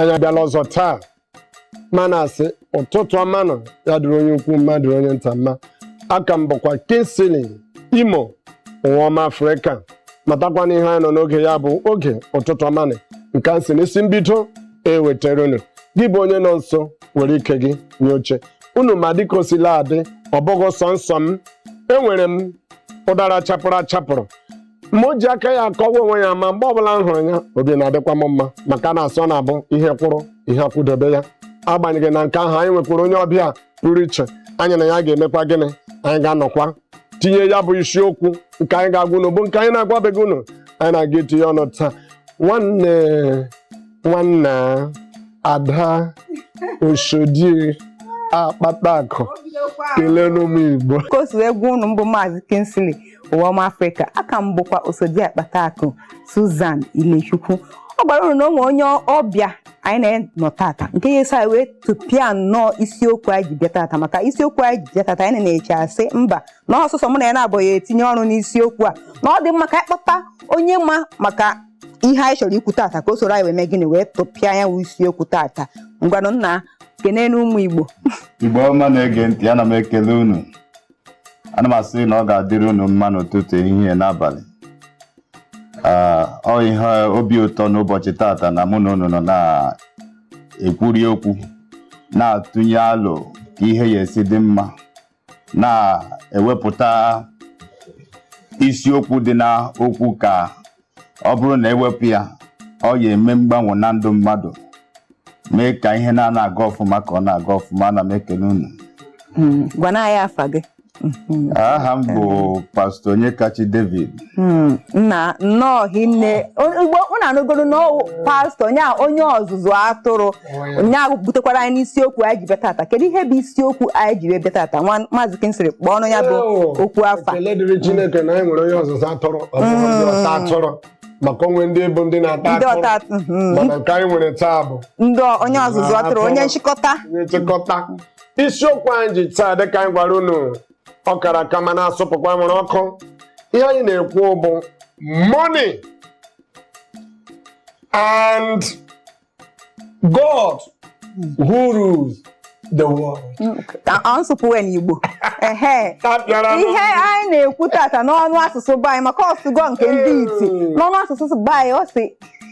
anyị abịala ọzọ taa ma na-asị ụtụtụ ọma nụ ya dịrị onye ukwu mma dịrị onye nta mma aka m bụkwa Kingsley imo ụwa ọma afrịka matakwa na ihe anyị nọ n'oge ya bụ oge ụtụtụ ọma nụ nke a si n'isi mbido ewetara unu gị bụ onye nọ nso were ike gị nye oche unu ma dịka o sila adị ọ bụghị sọnsọ m enwere m ụdara chapụrụ achapụrụ ma o ji aka ya akọwa onwe ya ma mgbe ọbụla m hụrụ ya obi na-adịkwa m mma maka na a sị na ọ bụ ihe kwụrụ ihe akwụdobe ya agbanyeghị na nke ahụ anyị nwekwara onye ọbịa pụrụ iche anyị na ya ga-emekwa gịnị anyị ga-anọkwa tinye ya bụ isiokwu nke anyị ga-agwa unu bụ nke anyị na-agwabeghị unu anyị na-aga etinye ọnụ taa nwanne nwanna ada osodi akpata akụ keleenụ ụmụ igbo ka o si wee gwa unu mbụ maazị Kingsley ụwa ọma afrịka aka m bụkwa osodi akpata akụ Susan Ilechukwu ọ gwara unu na o nwere onye ọbịa anyị na ya nọ tata nke ya-eso anyị wee tụpịa nnọọ isiokwu anyị ji bịa tata maka isiokwu anyị ji bịa tata anyị na-eche asị mba na ọ sọsọ mụ na ya na-abụghị etinye ọnụ n'isiokwu a na ọ dị mma ka anyị kpọta onye ma maka ihe anyị chọrọ ikwu tata ka o soro anyị wee mee gịnị wee tụpịa ya wụ isiokwu tata ngwanụ nna kenenụ ụmụ igbo Igbo ọma na-ege ntị ana m ekele unu ana m asị na ọ ga-adịrị unu mma n'ụtụtụ ehihie na abalị Ah, ọ ihe obi ụtọ n'ụbọchị tata na mụ na unu nọ na-ekwuri okwu na-atụnye alo ka ihe ya-esi dị mma na-ewepụta isiokwu dị na okwu ka ọ bụrụ na e wepụ ya ọ ya-eme mgbanwe na ndụ mmadụ mee ka ihe na-ana aga ọfụma ka ọ na-aga ọfụma ana m ekele unu Mm, gwanụ anyị afa gị Mhm. aha m bụ pastọ Onyekachi David Mm, nna nnọọ hinne ugbu a unu anụgoro na ọ wụ pastọ onye a onye ọzụzụ atụrụ onye ahụ butekwara anyị n'isiokwu anyị ji bịa tata kedu ihe bụ isiokwu anyị ji wee bịa tata nwa maazị Kingsley kpọọnụ ya bụ okwu afa ekele dịrị Chineke na anyị nwere onye ọzụzụ atụrụ ọta atụrụ maka o nwe ndị bụ ndị na-ata ndị ọta atụrụ mhm. mana nke anyị nwere taa bụ ndị onye ọzụzụ atụrụ onye nchịkọta onye nchịkọta isiokwu anyị ji taa dịka anyị gwara unu ọ kara aka ma na-asụpụkwa nwere ọkụ ihe anyị na-ekwu bụ money and God who rules the world. Ọ nsụpụwe n'Igbo. Ehe. Tapịara m. Ihe anyị na-ekwu tata n'ọnụ asụsụ be anyị maka ọ sụgo nke ndị iti Ee. n'ọnụ asụsụ be anyị ọ sị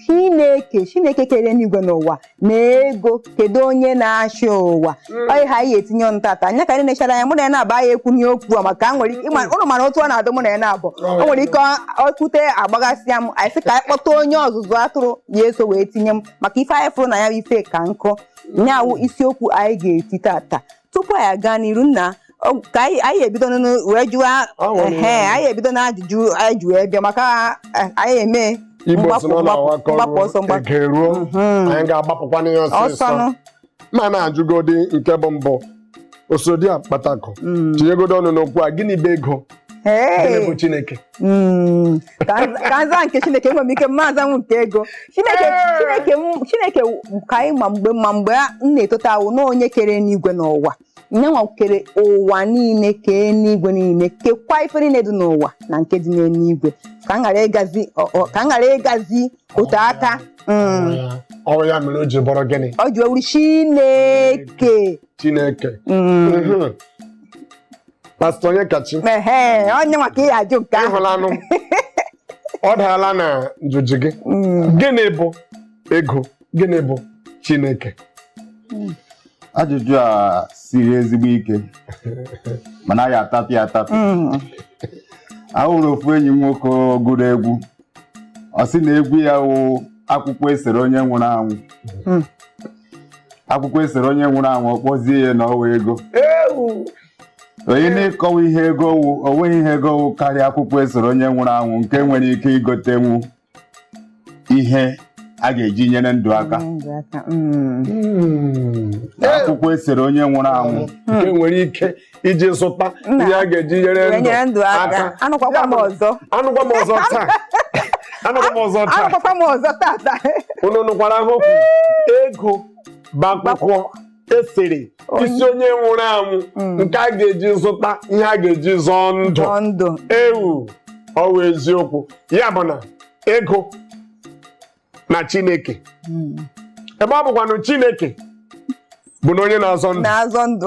Chineke Chineke kere enigwe na ụwa na ego kedu onye na-achị ụwa Mm. ọ ihe anyị ga-etinye ọnụ tata anya ka anyị na-echara anya mụ na ya na-aba ya ekwu ihe okwu a maka nwere ike ịma- ụnụ mara otu ọ na-adụ mụ na ya na-abụ o nwere ike ọ- ọ kwute agbagasịa m anyị sị ka anyị kpọta onye ọzụzụ atụrụ ya eso wee tinye m maka ife anyị fụrụ na ya bụ ife ka nkụ nya wụ isiokwu anyị ga-eti tata tupu anyị aga n'iru nna ọ- ka anyị anyị ebido n'ọnụ wee jụwa Ọ nwere ehe ihe. anyị ebido na ajụjụ anyị ji wee bịa maka eh, anyị eme Igbo si mgbapụ na ọ mgbapụ na-awakọ mgbapụ ọsọ ruo mgbapụ eke ruo Mhm. anyị ga-agbapụkwa n'ihe ọsịsọ ọsọnụ ma na-ajụgodi nke bụ mbụ Osodi Akpatakụ Mm. tinyegodi ọnụ n'okwu a gịnị bụ ego gịnị bụ Hey. chineke Mm. ka m- ka m zaa nke chineke enwere m ike m ma azanwu nke ego chineke Ee. chineke m- chineke ka anyị ma mgbe ma mgbe a- m na-etote awụ na onye kere enigwe na ụwa nya nwa kere ụwa niile kee enigwe niile kekwa ife niile dị n'ụwa na nke dị n'eluigwe ka m ghara ịgazi ọ- ọ- ka m ghara ịgazi otu aka Mm. ọ wụ ya mere o ji bụrụ gịnị o ji wụrụ chineke chineke Mm. Mhm. pastọ Onyekachi Ehe, onye nwa ka ị ya-ajụ nke ahụ ịhụlanụ ọ daala na ajụjụ gị Mm. gịnị bụ ego gịnị bụ chineke ajụjụ a siri ezigbo ike mana a ya-atapị atapị mm. ahụrụ ofu enyi m nwoke gụrụ egwu ọ sị na egwu ya wụ akwụkwọ esere onye nwụrụ anwụ mm. akwụkwọ esere onye nwụrụ anwụ ọ kpọzie ya na ọ wụ ego onye na-ekọwa ihe ego wụ o nweghị ihe ego wụ karịa akwụkwọ esere onye nwụrụ anwụ nke nwere ike igotenwu ihe a ga-eji nyere ndụ aka Ndụ aka, mm. Hmm. akwụkwọ esere onye nwụrụ anwụ nke e nwere ike iji zụta Nna, ihe a ga-eji nyere Wee ndụ nyere ndụ aka aka anụkwakwa m ọzọ anụkwa m ọzọ taa anụkwa m ọzọ taa anụkwakwa m ọzọ tata unu nụkwara ha okwu ego bụ akwụkwọ esere isi onye nwụrụ anwụ mm. nke a ga-eji zụta ihe a ga-eji zọọ ndụ ndụ ewu ọ wụ eziokwu ya bụ na ego na chineke mm. ebe ọ bụkwanụ chineke bụ na onye na-azọ ndụ na-azọ ndụ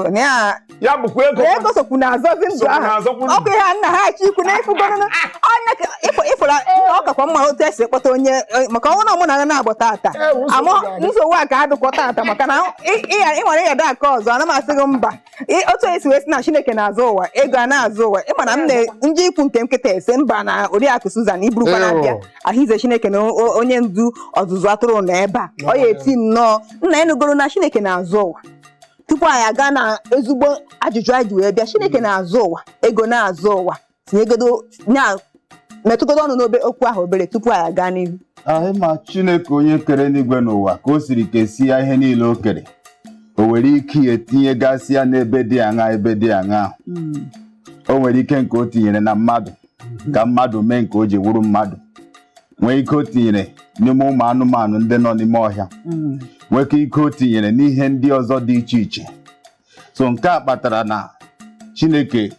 ya bụkwa ego ego sokwu na-azọzi ndụ ahụ na-azọkwu ndụ. ọ bụ ihe a na-achọ ikwu na ịfụgorụnụ onye ka ịfụ- ịfụla ọ kakwa mma otu esi ekpọta onye eh, maka ọ wụ na ọ mụ na na-agbọ tata Eh, nsogbu amụ ga-adị. nsogbu a ga-adịkwa tata maka na ị- ị- ị nwere ịyada aka ọzọ ana m asị gị mba Ị- otu esi wee sị na chineke na-azụ ụwa ego a na-azụ ụwa ịma na m na ndị ikwu nke nkịta ese mba na oriakụ Susan iburukwa na abịa Ew. ahụize chineke na o- onye ndu ọzụzụ atụrụ na ebe a ọ ya eti nnọọ nna enugoro na chineke na-azụ ụwa tupu anyị aga na ezigbo ajụjụ anyị ji wee bịa chineke mm. na-azụ ụwa ego na-azụ ụwa tinyegodo metụgodo ọnụ n'obe okwu ahụ obere tupu anyị aga n'ihu anyị ma chineke onye kere n'igwe n'ụwa ka o siri kesia ihe niile o kere o were ike tinyegasịa n'ebe dị aṅa ebe dị aṅa mm. o nwere ike nke o tinyere na mmadụ ka mmadụ mee nke o ji wuru mmadụ nwee ike o tinyere n'ime ụmụ anụmanụ ndị nọ n'ime ọhịa Mm. nwee ike ike o tinyere n'ihe ndị ọzọ dị iche iche so nke a kpatara na chineke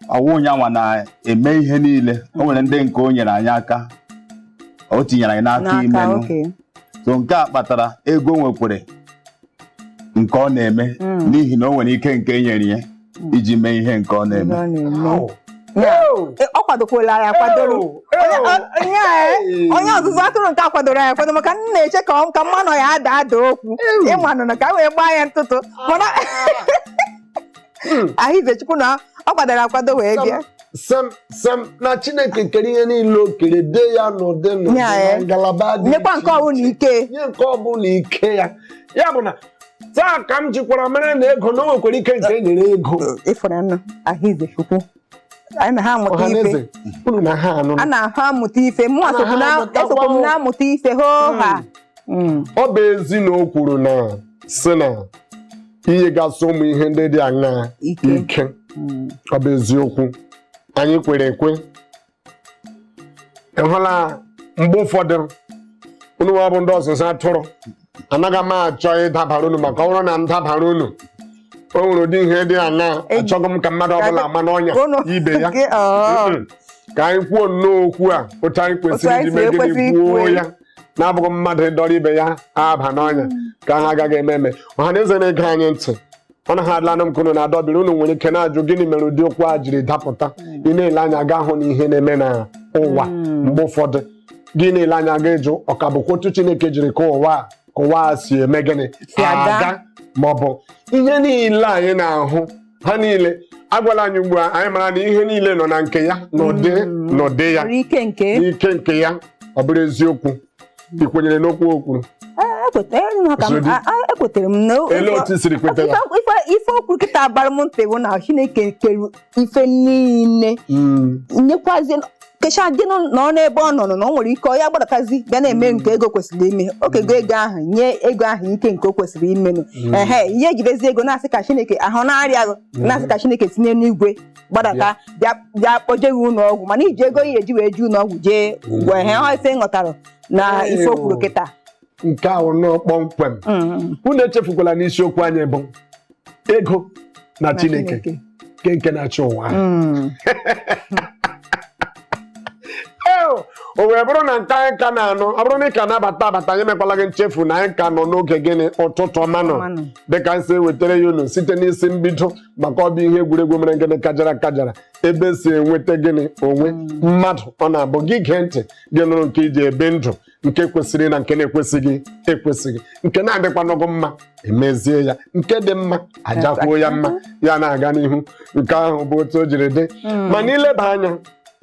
ọ wụghị ya nwa na-eme ihe niile o nwere ndị nke o nyere anyị aka o tinyere anyị n'aka imenụ okay so nke a kpatara ego nwekwere nke ọ na-eme Mm. n'ihi na o nwere ike nke e nyere ya iji mee ihe nke ọ na-eme Ihe ọ na-eme. Au. Ya, Au. e, ọ kwadokwala ya akwadoro Au. Onye- Au. ọ- onye a, e, Hey. onye ọzụzụ atụrụ nke a kwadoro ya akwado maka m na-eche ka ọ- ka ma ọnụ ya ada ada okwu ịmanụ na ka m wee gbaa ya ntụtụ mana ahụizechukwu na ọ kwadoro akwado wee bịa Sam Sam na Chineke kere ihe niile o kere dee ya n'ụdị n'ụdị Ya, na eh. ngalaba dị nyekwa iche nke ọwụla iche. ike nye nke ọbụla ike ya ya bụ na taa ka m jikwara mara na ego na o nwekwara ike nke e nyere ego ịfụrọ ahụ ibe chukwu anyị na-amụta ife unu na-anụ a na-amụta ife mụ esokwu m na-amụta ife hoo ha hmm. Hmm. ọ bụ ezi na o kwuru na-asị na e nyegasị ụmụ ihe ndị dị aṅaa ike hmm. ọ bụ eziokwu anyị kwere ekwe ịhụla mgbe ụfọdụ unu nwa bụ ndị ọzụzụ atụrụ anaghị m achọ ịdabara unu maka ọ bụrụ na m dabara unu o nwere ụdị ihe dị aṅa achọghị m ka mmadụ ọbụla ama n'ọnya Unu- ibe ya Gị- ọọ. Mm-mm. ka anyị kwuo nnọọ okwu a otu anyị Otu kwesịrị anyị iji si mee ekwesị gịnị kwuo ikwu ya ya. na-abụghị mmadụ ịdọrọ ibe ya aba n'ọnya ka ha agaghị eme eme ọha na eze na-ege anyị ntị ọ naghị adịlanụ m ka unu na-adọbiri unu nwere ike na-ajụ gịnị mere ụdị okwu a jiri dapụta ị na-ele anya ga-ahụ na ihe na-eme na ụwa mgbe ụfọdụ gị na-ele anya ga-ajụ ọ ka bụkwa otu chineke jiri kee ụwa a- ka ụwa a si eme gịnị Si aga. ma ọ bụ ihe niile anyị na-ahụ ha niile agwala anyị ugbu a anyị mara na ihe niile nọ na nke ya n'ụdị n'ụdị ya Nwere ike nke n'ike nke ya ọ bụrụ eziokwu ị kwenyere n'okwu o kwuru ekwetere m na Ele otu i siri kweta ya? ife- ife o kwuru kịta bara m ntị bụ na chineke kere ife niile Mm, nyekwazi kecha dị nọ nọ n'ebe ọ nọ nọ na o nwere ike ọ ya gbadatazi bịa na-eme nke ego kwesịrị ime o kego ego ahụ nye ego ahụ ike nke o kwesịrị imenụ ehe ihe ejidezi ego na-asị ka chineke ahụ na-arịa gị na-asị ka chineke tinye n'igwe gbadata bịa bịa kpọje gị ụlọ ọgwụ mana iji ego ihe eji wee jee ụlọ ọgwụ jee gwọ ihe ha ife nghọtara na Ee, ife o kwuru o. kịta nke ahụ nọ kpọmkwem Mm, unu echefukwala na isiokwu anyị bụ ego na na chineke nke nke na-achị ụwa ahụ. Mm, Ee, o wee bụrụ na nke anyị ka na-anụ ọ bụrụ na ị ka na-abata abata anyị mekwala gị nchefu na anyị ka nọ n'oge gịnị ụtụtụ ọmanụ ọmanụ. dịka anyị si wetara ya unu site n'isi mbido maka ọ bụ ihe egwuregwu mere gịnị kajara kajara ebe e si enweta gịnị onwe mmadụ ọ na-abụ gị gee ntị gị nụrụ nke i ji ebi ndụ nke kwesịrị na nke na-ekwesịghị ekwesịghị nke na-adịkwanụghị mma e mezie ya nke dị mma a jakwuo ya mma ya na-aga n'ihu nke ahụ bụ otu o jiri dị mana ileba anya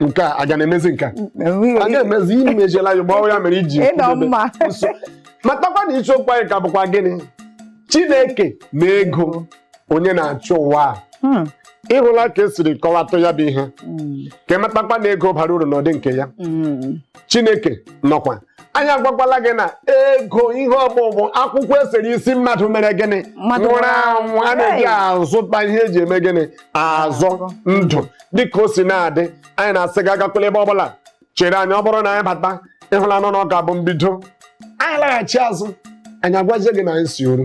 nke a aga na-emezi nke a a ga-emezi ihe mejiela ya gbawa ya mere iji ịnọ kwudebe mma nso matakwa na isiokwu anyị ka bụkwa gịnị chineke na ego onye na-achị ụwa a Hmm, ịhụla ka e siri kọwatụ ya bụ ihe hmm, ka ịmatakwa na ego bara uru n'ụdị nke ya hmm. chineke nọkwa anyị agwakwala gị na ego ihe ọ bụ bụ akwụkwọ e sere isi mmadụ mere gịnị Mmadụ nwụrụ nwụrụ anwụ. anwụ a na-eji Hey! azụta ihe eji eme gịnị azọ ndụ dịka o si na-adị anyị na-asị gị agakwala ebe ọbụla chere anyị ọ bụrụ na anyị bata ịhụlanụ na ọ ka bụ mbido anyị laghachi azụ anyị agwazie gị na anyị si oru